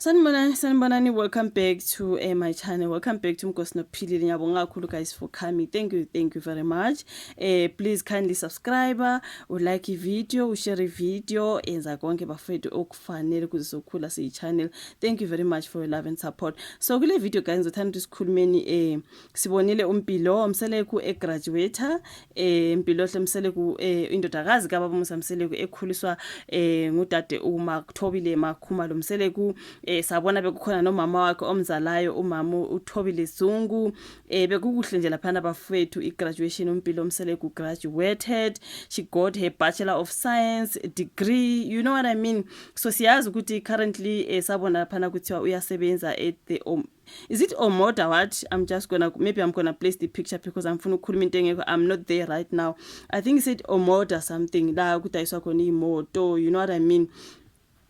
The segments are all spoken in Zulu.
sanibonani sanibonani welcome back to uh, my channel welcome back to mgosi nokuphilile ngiyabonga kakhulu guys for coming thank you thank you very much uh, please kindly subscribe ulike ivideo ushare ivideo enza konke bafethu okufanele kuze sokhula siyi-channel thank you very much for your love and support so kule video guys ngizothanda ukuthi sikhulumeni um sibonile umpilo mseleku egraduator eh mpilohle mseleku eh indodakazi kababa musa mseleku ekhuliswa eh ngudade umakuthobile makhuma lo mseleku eh sabona bekukhona nomama wakhe omzalayo umama uthobile zungu eh bekukuhle nje lapha nabafethu igraduation umpilo mseleku graduated she got her bachelor of science degree you know what i mean so siyazi ukuthi currently eh sabona lapha kuthiwa uyasebenza at the um, Is it Omoda what? I'm just gonna, maybe I'm gonna place the picture because I'm funa ukukhuluma into engekho. I'm not there right now. I think he said Omoda something la kudayiswa khona imoto, you know what I mean?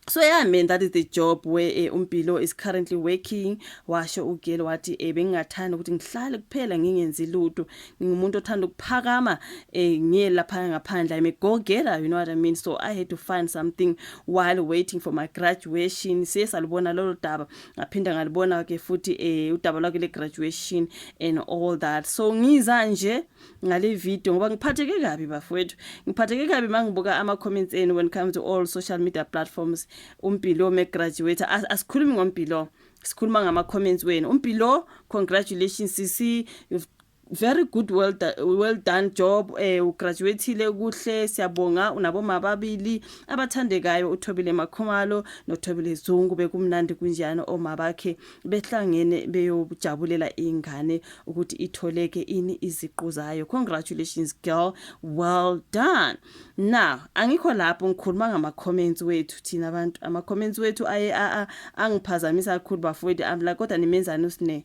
so yeah man that is the job where eh, umpilo is currently working washo ugelo wathi eh, bengingathanda ukuthi ngihlale kuphela ngingenzi lutho ngingumuntu othanda ukuphakama eh, ngiye lapha ngaphandle i'm a go getter you know what i mean so i had to find something while waiting for my graduation siye salubona lolo daba ngaphinda ngalibona ke futhi eh udaba lwakhe le graduation and all that so ngiza nje ngale video ngoba ngiphatheke kabi bafowethu ngiphatheke kabi mangibuka ama comments enu when it comes to all social media platforms umpilo me graduate asikhulumi ngompilo sikhuluma ngama comments wenu umpilo congratulations sisi you've Very good well, do, well done job eh ugraduatile kuhle siyabonga unaboma ababili abathandekayo uThobile Makhumalo noThobile Zungu bekumnandi kunjani oma bakhe behlangene beyojabulela ingane ukuthi itholeke ini iziqu zayo congratulations girl well done now angikho lapho ngikhuluma ngama comments wethu thina abantu ama comments wethu aye a angiphazamisa kakhulu bafowethu amla kodwa nimenzani usine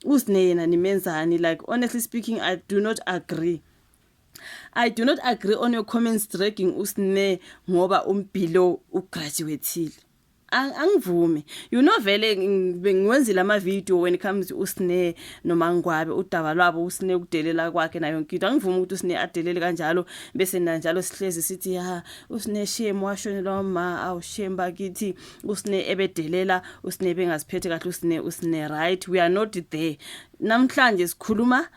usne yena nimenzani like honestly speaking i do not agree I do not agree on your comments dragging usne ngoba umbilo ugraduateile angivumi you know vele bengiwenzile ama video when it comes usne nomangwabe udaba lwabo usne ukudelela kwakhe nayo yonke into angivumi ukuthi usne adelele kanjalo bese nanjalo sihlezi sithi ha usne shame washonelwa uma awu shame bakithi usine ebedelela usine ebengaziphethe kahle usine usine right we are not there namhlanje sikhuluma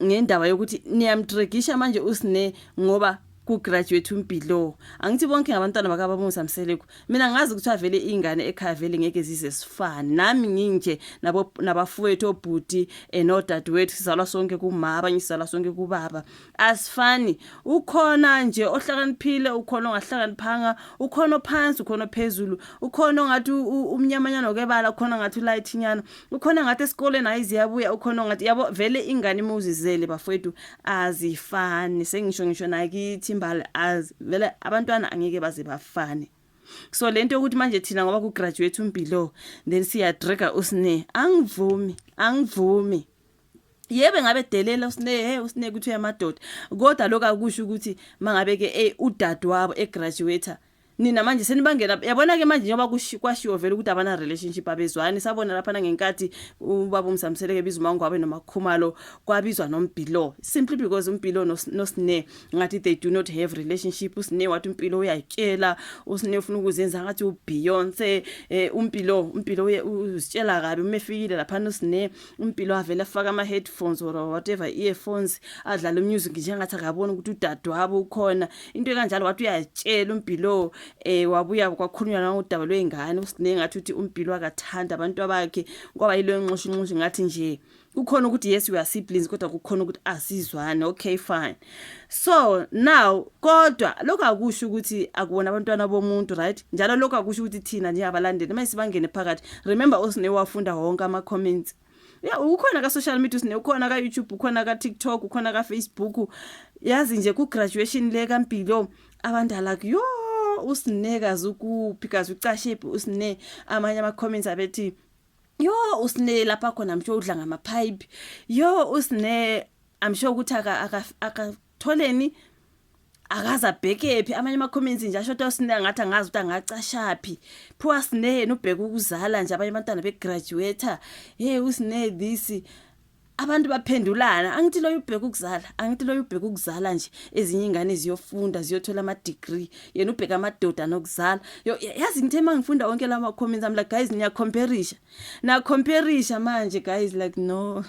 ngendaba yokuthi niyamtregisha manje usine ngoba kugraduate umpilo angithi bonke ngabantwana bakabamusa mseleku mina ngazi ukuthi avele ingane ekhaya vele ngeke zize sifane nami nginje nabo nabafowethu obhuti enodadewethu sizalwa sonke kumama abanye sizalwa sonke kubaba asifani ukhona nje ohlakaniphile ukhona ongahlakaniphanga ukhona ophansi ukhona ophezulu ukhona ongathi umnyamanyana okebala ukhona ngathi ulayithinyana ukhona ngathi esikoleni hayi ziyabuya ukhona ongathi yabo vele ingane uma uzizele bafowethu azifani sengisho ngisho nakithi imbali az vele abantwana angeke baze bafane so lento yokuthi manje thina ngoba ku graduate umpilo then siya dragger usne angivumi angivumi yebe ngabe delela usine hey usine kuthi uyamadoda kodwa lokho akusho ukuthi mangabe ke eh, udadewabo egraduate nina manje senibangena yabona ke manje njengoba kwashiwo vele ukuthi abana relationship abezwani sabona lapha nangenkathi ubaba umsamseleke biza umangwabe nomakhumalo kwabizwa nombhilo simply because umpilo nosine ngathi they do not have relationship usine wathi impilo uyatyela usine ufuna ukuzenza ngathi uBeyonce eh, umpilo umpilo uzitshela kabi uma efikile lapha nosine umpilo avele afake ama-headphones or whatever earphones adlale umusic njengathi akaboni ukuthi udadewabo ukhona into ekanjalo wathi uyatshela umpilowo um eh, wabuya kwakhulunywa nangodaba lwey'ngane usiningi ngathi ukuthi umpilo akathanda abantu abakhe kwaba yilo nxushunxushu ngathi nje kukhona ukuthi yes we are siblings kodwa kukhona ukuthi asizwane okay fine so now kodwa lokho akusho ukuthi akuwona abantwana bomuntu right njalo lokho akusho ukuthi thina nje abalandeli uma sibangene phakathi remember osine wafunda wonke ama comments ya ukhona ka social media usine ukhona ka YouTube ukhona ka TikTok ukhona ka Facebook yazi nje ku graduation le kampilo abantu alak yo usine kazi ukuphi kazi ucashe usine amanye ama comments abethi yo usine lapha khona msho udla ngama pipe yo usine I'm sure ukuthi aka akatholeni akaze abhekephi amanye ama comments nje asho ukuthi sine ngathi angazi ukuthi angacashaphi phuwa sine yena ubheka ukuzala nje abanye abantwana be graduate hey usine this abantu baphendulana angithi loyo ubheka ukuzala angithi loyo ubheka ukuzala nje ezinye ingane ziyofunda ziyothola ama degree yena ubheka amadoda nokuzala yazi ngithe mangifunda wonke lama comments am like guys niya comparisha na comparisha manje guys like no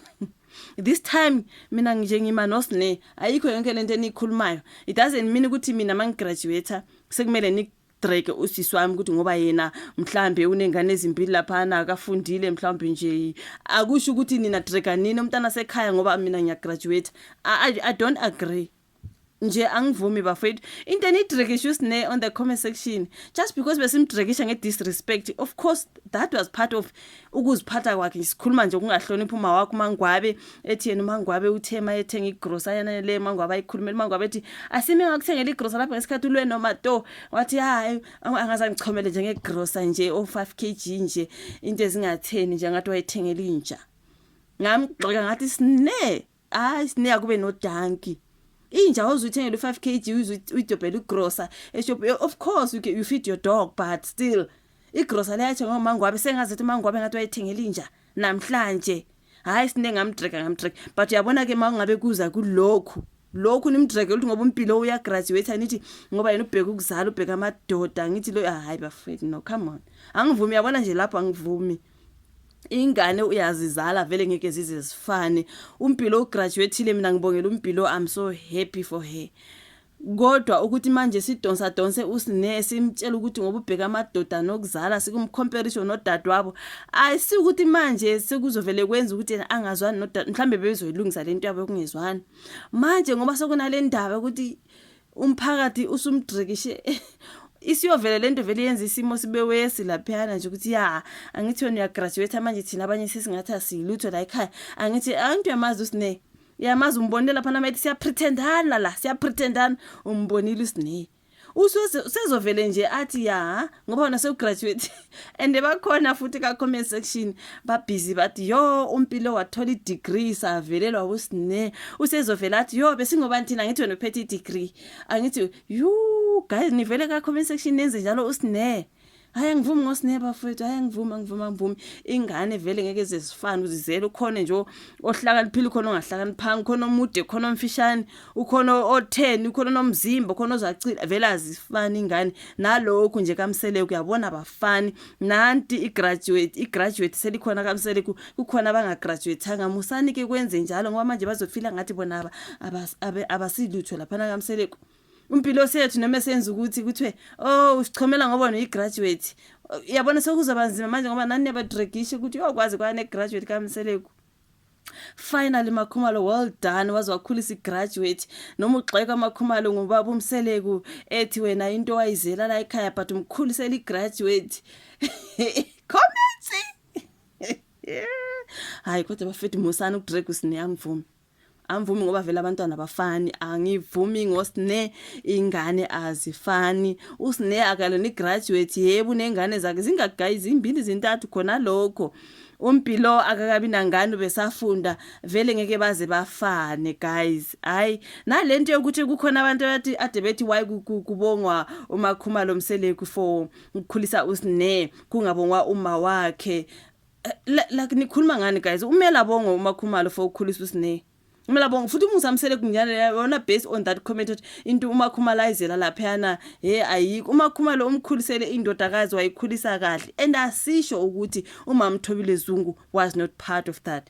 this time mina nje ngima nosne ayikho yonke lento enikhulumayo it doesn't mean ukuthi mina mangigraduate sekumele ni drake usisi wami ukuthi ngoba yena mhlambe unengane ezimbili laphana akafundile mhlambe nje akusho ukuthi nina drake nini umntana sekhaya ngoba mina ngiyagraduate I, I don't agree nje angivumi bafethu into enidrekisha usne on the comment section just because besimdrekisha nge-disrespect of course that was part of ukuziphatha kwakhe sikhuluma nje ukungahloniphi uma wakho umangwabe ethi yena umangwabe uthe ma ethenga igrosa yana le mangwabe ayikhulumela umangwabe ethi asime ngakuthengela igrosa lapho ngesikhathi ulwe noma to wathi hayi angazangichomele nje ngegrosa nje o 5 kg nje into ezingatheni nje ngathi wayethengela inja ngamgxoka ngathi sine hayi sineya kube no danki inja ozuyithengela u5 kg uyidobhela ugrocer eshop of course you, can, you feed your dog but still igrocer leyathenga ngomangwabe sengazi ukuthi umangwabe ngathi wayithengela inja namhlanje hayi sine ngamdreka ngamdreka but uyabona ke mawungabe kuza kulokhu lokhu nimdreke ukuthi ngoba umpilo uyagraduate anithi ngoba yena ubheka ukuzala ubheka amadoda ngithi lo hayi bafethu no come on angivumi yabona nje lapho angivumi ingane uyazizala vele ngeke zize zifane umpilo ugraduatile mina ngibongela umpilo i'm so happy for her kodwa ukuthi manje sidonsa donse usine simtshela ukuthi ngoba ubheka amadoda nokuzala sikumcomparison nodadewabo ayisi ukuthi manje sekuzovele kwenza ukuthi yena angazwani nodad mhlambe bebezoyilungisa lento yabo yokungezwani manje ngoba sekunale ndaba ukuthi umphakathi usumdrikishe isiyovele lento vele yenza isimo sibe wesi laphana nje ukuthi ya angithi wena uyagraduate manje thina abanye sesingathi asilutho la ekhaya angithi angithi uyamazi usine yamazi umbonile lapha namethi siyapretendana la siyapretendana umbonile usine usezovele nje athi ya ngoba wena sewugraduate and bakhona futhi ka-comment section babhizi bathi yo umpilo wathola i-degree savelelwa wusine usezovela athi yo besingobani thina ngithi wena uphethe i-degree angithi yu guys nivele ka-comment section nenze njalo usine hayi angivumi ngosine bafowethu hayi angivumi angivumi angivumi ingane vele ngeke zezifane uzizele ukhona nje ohlakaniphile khona ongahlakaniphanga khona omude khona omfishane ukhona otheni ukhona nomzimba khona ozacila vele azifani ingane nalokhu nje kamsele kuyabona bafani nanti igraduate igraduate selikhona kamsele kukhona abangagraduatanga musani ke kwenze njalo ngoba manje bazofila ngathi bona abasilutho lapha kamsele impilo sethu noma senza ukuthi kuthiwe oh usichomela ngoba noyigraduate yabona sekuzoba nzima manje ngoba nani niyabadragisha ukuthi uyokwazi kwane graduate kamseleku Finally Makhumalo well done waze wakhulisa igraduate noma ugxeka Makhumalo ngubaba umseleku ethi wena into wayizela la ekhaya but umkhulisela igraduate comment hayi kodwa bafethu musani ukudrag usini yangivuma angivumi ngoba vele abantwana abafani angivumi ngosne ingane azifani usne akalona igraduate yebo unengane zakhe zingagayi zimbili zintathu khona lokho umpilo akakabi nangane besafunda vele ngeke baze bafane guys hayi nalento yokuthi kukhona abantu abathi ade bethi why kubongwa umakhumalo mseleku for ukukhulisa usne kungabongwa uma wakhe Eh, la la nikhuluma ngani guys umela bongo umakhumalo for ukukhulisa usine Mina bonga futhi umusamsele kunyane yona based on that comment ukuthi into uma khumalayizela lapha yana hey ayikho uma khumalo umkhulisele indodakazi wayikhulisa kahle and asisho ukuthi umamthobile Zungu was not part of that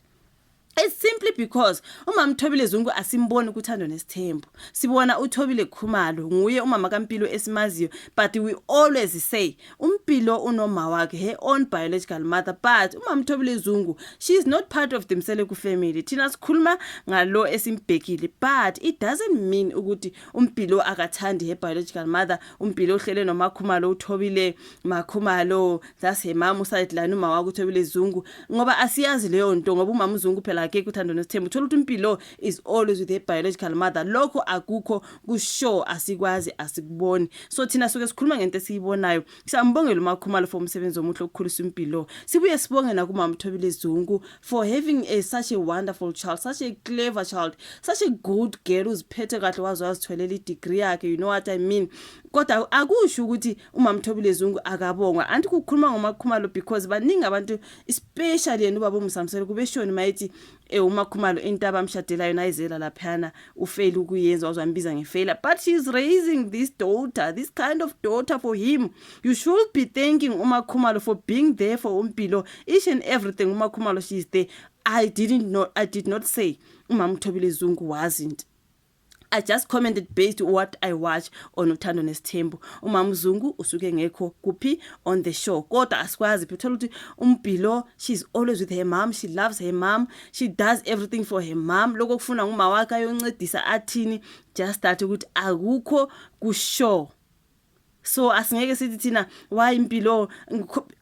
It's simply because umama Thobile Zungu asimboni ukuthando nesithembu. Sibona uThobile Khumalo nguye umama kaMpilo esimaziyo but we always say uMpilo unoma wakhe her own biological mother but umama Thobile Zungu she is not part of the Mseleku family. Thina sikhuluma ngalo esimbhekile but it doesn't mean ukuthi uMpilo akathandi her biological mother. uMpilo uhlele noMakhumalo uThobile makhumalo that's her mama usadlani uma wakho uthobile zungu ngoba asiyazi leyo nto ngoba umama uzungu phela akekho uthando nesithembu uthola ukuthi impilo is always with her biological mother lokho akukho kusho asikwazi asikuboni so thina suke sikhuluma ngento esiyibonayo siyambongela umakhumalo for umsebenzi omuhle okukhulisa impilo sibuye sibonge nakumama uthobile zungu for having a such a wonderful child such a clever child such a good girl uziphethe kahle waze wazitholela i degree yakhe you know what i mean kodwa akusho ukuthi umamthobile zungu akabongwa anti kukhuluma ngomakhumalo because baningi abantu especially yena ubaba umusamselo kubeshoni mayithi eh umakhumalo into abamshadela yona ayizela laphana ufail ukuyenza wazambiza ngefailure but she is raising this daughter this kind of daughter for him you should be thanking umakhumalo for being there for umpilo each and everything umakhumalo she is there i didn't know i did not say umamthobile zungu wasn't I just commented based what I watch on uthando nesithembu umama uzungu usuke ngekho kuphi on the show kodwa asikwazi phi uthola ukuthi umbhilo she's always with her mom she loves her mom she does everything for her mom lokho kufuna nguma wakhe ayoncedisa athini just that ukuthi akukho ku show so asingeke sithi thina why impilo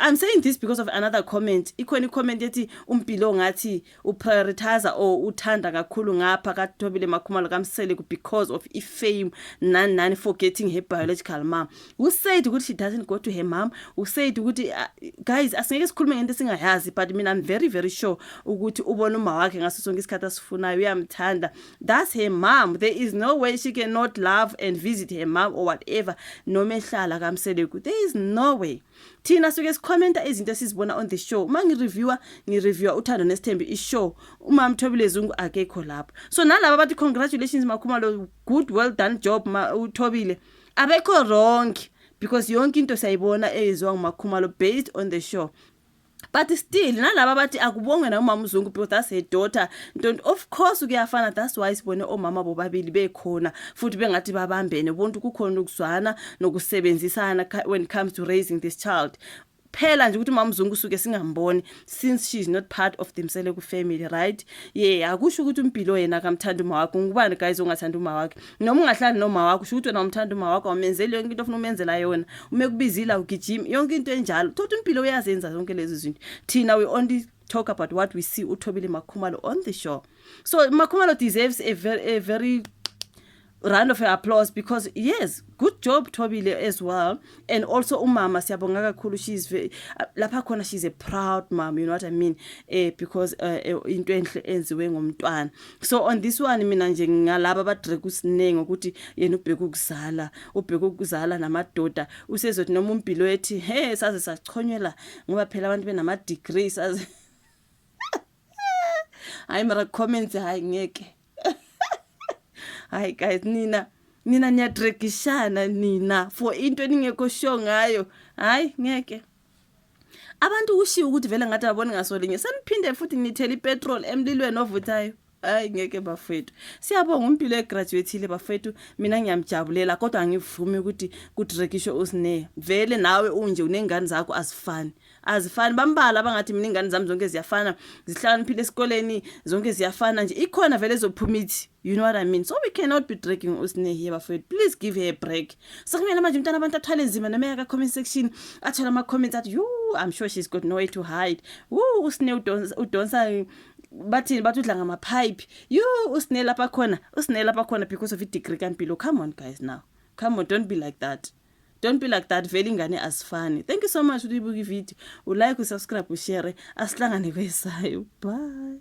i'm saying this because of another comment ikhona icomment ethi umpilo ngathi uprioritize or uthanda kakhulu ngapha kathobile makhumalo kamsele because of ifame nani nani forgetting her biological mom who said ukuthi she doesn't go to her mom who said ukuthi uh, guys asingeke sikhulume ngento singayazi but mina i'm very very sure ukuthi ubona uma wakhe ngaso sonke isikhathi asifunayo uyamthanda That's her mom. There is no way she cannot love and visit her mom or whatever. Noma ehlala kamseleku. There is no way. Thina suke sikhomenta izinto esizibona on the show. Uma ngireviewer, ngireviewer uthando nesithembi ishow. Uma Mthobile Zungu akekho lapho. So nalabo bathi congratulations Makhumalo, good well done job ma uThobile. Abekho wrong because yonke into siyayibona eyenziwa nguMakhumalo based on the show. but still nalaba bathi akubonge na umama uzungu because that's her daughter ntonto of course kuyafana that's why sibone omama bobabili bekhona futhi bengathi babambene bonke kukhona ukuzwana nokusebenzisana when it comes to raising this child phela nje ukuthi mama uzungu usuke singamboni since she is not part of themsele ku family right yeah akusho ukuthi umpilo yena akamthanda uma wakhe ngubani guys ongathanda uma wakhe noma ungahlali noma wakho shuthi wena umthanda uma wakho awumenzeli yonke into ofuna umenzela yona uma ekubizile awugijimi yonke into enjalo thothi impilo uyazenza zonke lezi zinto thina we only talk about what we see uthobile makhumalo on the show so makhumalo deserves a very, a very round of applause because yes good job thobile as well and also umama siyabonga kakhulu she's very, uh, lapha khona she's a proud mom you know what i mean eh because uh, eh, into enhle enziwe ngomntwana so on this one mina nje ngalaba abadrek usiningi ukuthi yena ubheka ukuzala ubheka ukuzala namadoda usezothi noma umpilo ethi he saze sachonyela ngoba phela abantu benama degrees saze hayi mara comments hayi ngeke hayi guys nina nina niyadregishana nina for into eningekho sure ngayo hayi ngeke abantu kushiwo ukuthi vele ngathi ababoni ngaso linye seniphinde futhi nithela ipetrol emlilweni ovuthayo hayi ngeke bafethu siyabonga umpilo egraduatile bafethu mina ngiyamjabulela kodwa angivumi ukuthi kudrekishwe usine vele nawe unje unengane zakho azifani azifani bambala abangathi mina ingane zami zonke ziyafana zihlakaniphile esikoleni zonke ziyafana nje ikhona vele ezophuma ithi you know what i mean so we cannot be dragging usnehi bafowethu please give her a break sekumele manje umntana abantu athwale nzima noma yaka comment section athole ama comments athi you i'm sure she's got no way to hide woo usne udonsa udonsa bathini bathi udla ngama pipe you usne lapha khona usne lapha khona because of i degree kampilo come on guys now come on don't be like that Don't be like that vele ingane asifani. Thank you so much uyibuka ivideo. Ulike, usubscribe, ushare. Asihlangane kwesayo. Bye.